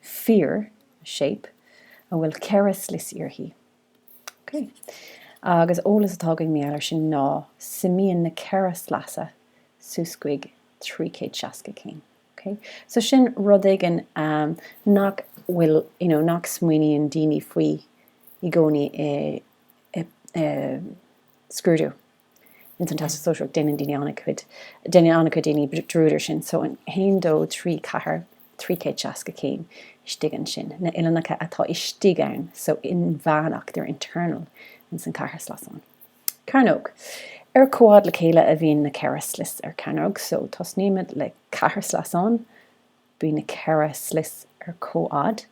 fíor, shape, a bhfuil ceithre slios uirthi. Ok. Agus eolas atá againn mar gheall ar sin ná suimíonn na ceithre sleasa suas chuig trí chéad seasca céim. Ok. So sin rud éigin nach bhfuil, you know, nach smaoiníonn daoine faoi i gcónaí i scrúdú. Ins an Teastas Sóisearach déanann daoine an-chuid, déanann an-chuid daoine dearúd air sin so an haon dó trí ceathair, trí chéad seasca céim istigh ansin, na uillinneacha atá istigh ann so inmheánach, they're internal ins an ceathairshleasán. Cearnóg. Ar comhfhad le chéile a bhíonn na ceithre slios ar chearnóg so tosnaímid le ceathairshleasán, bíonn na ceithre slios ar comhfhad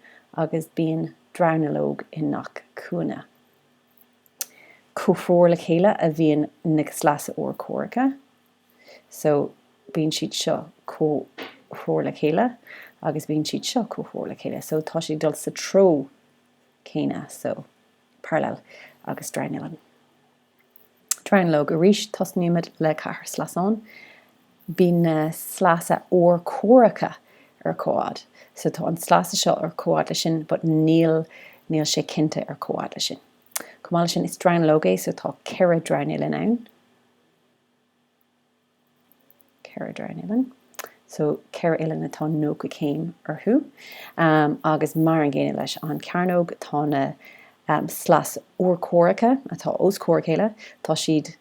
agus bíonn dronuilleog i ngach cúinne. comhthreomhar le chéile a bhíonn na sleasa urchomhaireacha, so bíonn siad seo comhthreomhar le chéile agus bíonn siad seo comhthreomhar le chéile, so tá siad ag dul sa treo céanna, so parallel agus dronuillinn. Dronuilleog Arís tosnaímid le ceathairshleasán. Bíonn na sleasa urchomhaireacha ar comhfhad. So tá an sleasa seo ar comhfhad leis sin but níl níl sé cinnte ar comhfhad leis sin. Chomh maith leis sin is dronuilleog é so tá ceithre dronuillinn ann. ceithre dronuillinn so ceithre uillinn atá nócha céim orthu agus mar an gcéanna leis an cearnóg tá na sleasa urchomhaireacha atá os comhair a chéile tá siad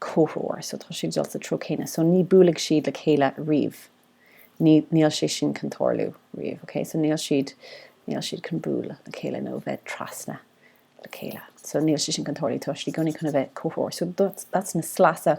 comhthreomhar so tá siad ag dul sa treo céanna so ní buailfidh siad le chéile riamh ní níl sé sin chun tarlú riamh ok so níl siad níl siad chun bualadh le chéile nó bheith trasna le chéile so níl sé sin chun tarlú tá siad i gcónaí chun a bheith comhthreomhar so that's na sleasa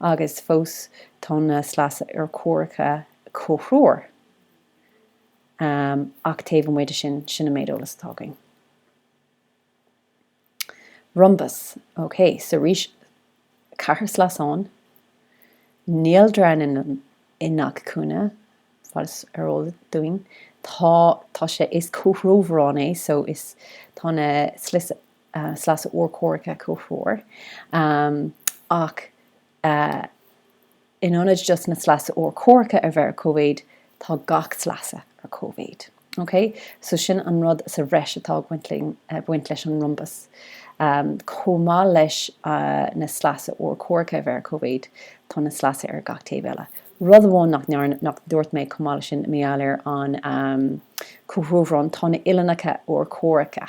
agus fós tá na sleasa urchomhaireacha comhthreomhar ach taobh amuigh de sin, sin an méid eolas atá againn. Rombas, ok, so arís ceathairshleasán, níl dronuillinn i ngach cúinne, fad is ar eol dúinn, tá, tá sé, is comhthreomharán é, so is, tá na sleasa, sleasa urchomhaireacha comhthreomhar ach in ionad just na sleasa urchomhaireacha a bheith ar cóimhéid tá gach sleasa ar cóimhéid. Ok? So sin an rud sa bhreis atá ag baint leis an rombas. Chomh maith leis na sleasa urchomhaireacha a bheith ar cóimhéid tá na sleasa ar gach taobh eile. Rud amháin nach ndearna, nach dúirt mé chomh maith leis sin mar gheall ar an comhthreomharán, tá na uillinneacha urchomhaireacha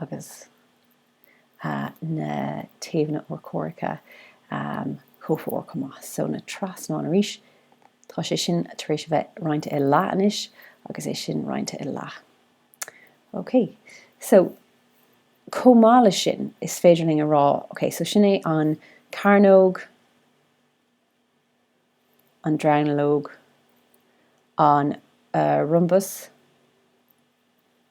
agus na taobhanna urchomhaireacha comhthreomhar chomh maith. So na trasnáin arís, tá sé sin tar éis a bheith roinnte i leath anois agus é sin roinnte i leath. OK. So chomh maith leis sin, is féidir linn a rá, OK, so sin é an cearnóg, an dronuilleog, an rhombus,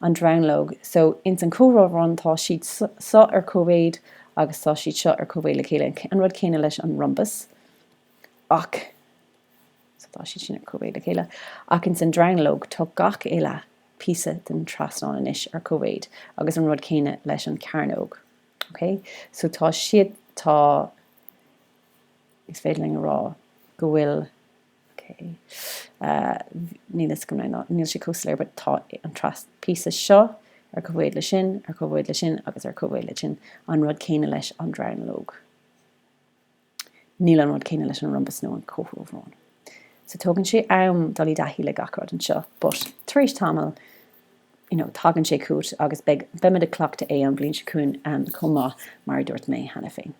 an dronuilleog so ins an comhthreomharán tá siad seo ar comhmhéid agus tá siad seo ar comhmhéid le chéile an rud céanna leis an rhombus ach so tá siad sin ar comhmhéid le chéile ach ins an dronuilleog tá gach uile píosa den trasnán anois ar comhmhéid agus an rud céanna leis an cearnóg ok so tá siad tá is féidir linn a rá go bhfuil OK. Níl fhios agam nó níl sé chomh soiléir but tá an tras píosa seo ar comhmhéid le sin, ar comhmhéid le sin agus ar comhmhéid le sin, an rud céanna leis an dronuilleog. Níl an rud céanna leis an rhombus nó an comhthreomharán. So tógann sé am dul i dtaithí le gach rud anseo but tar éis tamaill you know tagann sé chugat agus beimid ag cleachtadh é an bhliain seo chugainn chomh maith mar a dúirt mé cheana féin.